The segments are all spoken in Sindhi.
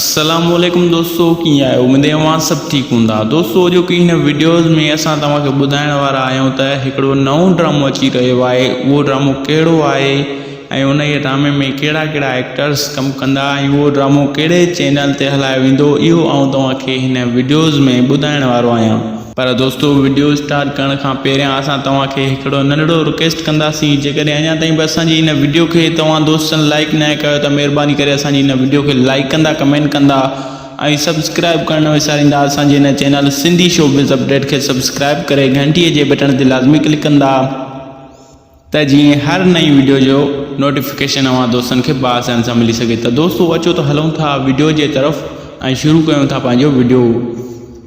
السلام عليڪم دوستو ڪيئن آهيو اميد آهي اوهان سڀ ٺيڪ هوندا دوستو اڄو ڪي هن وڊيوز ۾ اسان توهان کي ٻڌائڻ وارا آهيون ته هڪڙو نئون ڊرامو اچي رهيو آهي اهو ڊرامو ڪهڙو آهي ۽ ان جي ڊرامي ۾ ڪهڙا ڪهڙا ايڪٽرس ڪم ڪندا ۽ اهو ڊرامو ڪهڙي چينل تي هلايو ويندو اهو آئون توهان کي هن وڊيوز ۾ ٻڌائڻ وارو آهيان پر دوستو وڊيو اسٽارٽ ڪرڻ کان پهريان اسان توهان کي هڪڙو ننڍڙو رڪويسٽ ڪنداسين جيڪڏهن اڃا تائين به اسان جي هن وڊيو کي توهان دوستن لائيڪ ناهي ڪيو ته مهرباني ڪري اسان جي هن وڊيو کي لائيڪ ڪندا ڪمينٽ ڪندا ۽ سبسڪرائيب ڪرڻ نه وساريندا اسان جي هن channel Sindhi show buzz update کي سبسڪرائيب ڪري گهنٽي جي بٽڻ تي لازمي ڪلڪ ڪندا ته جيئن هر نئين وڊيو جو نوٽيفڪيشن اوهان دوستن کي بآسان سان ملي سگهي ته دوستو اچو ته هلون ٿا وڊيو جي طرف ۽ شروع ڪيون ٿا پنهنجو وڊيو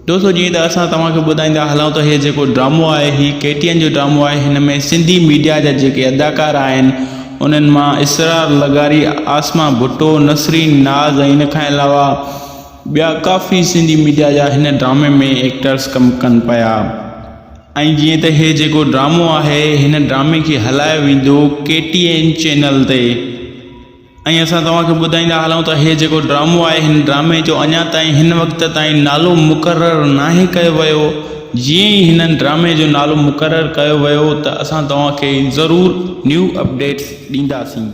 دوستو جيئن ته اسان توهان کي ٻڌائيندا هلون ته هي جيڪو ڊرامو آهي هي ڪي ٽي اين جو ڊرامو آهي هن ۾ سنڌي ميڊيا جا جيڪي اداڪار آهن انهن مان اسرار لغاري آسما ڀٽو نسرين ناز ۽ ان کان علاوه ٻيا ڪافي سنڌي ميڊيا جا هن ڊرامي ۾ ايڪٽرس ڪم ڪن پيا ۽ جيئن ته هي جيڪو ڊرامو آهي هن ڊرامي کي هلايو ويندو ڪي ٽي اين چينل تي ۽ اسان توهان کي ٻڌائيندا هلون ته هي جيڪو ڊرامو آهي هن ڊرامي جو اڃا تائين هن وقت تائين نالو مقرر ناهي ڪيو ويو جيئن ئي هن ڊرامي جو نالو مقرر ڪيو ويو ته اسان توهان کي ضرور نيو اپڊيٽس ڏينداسين.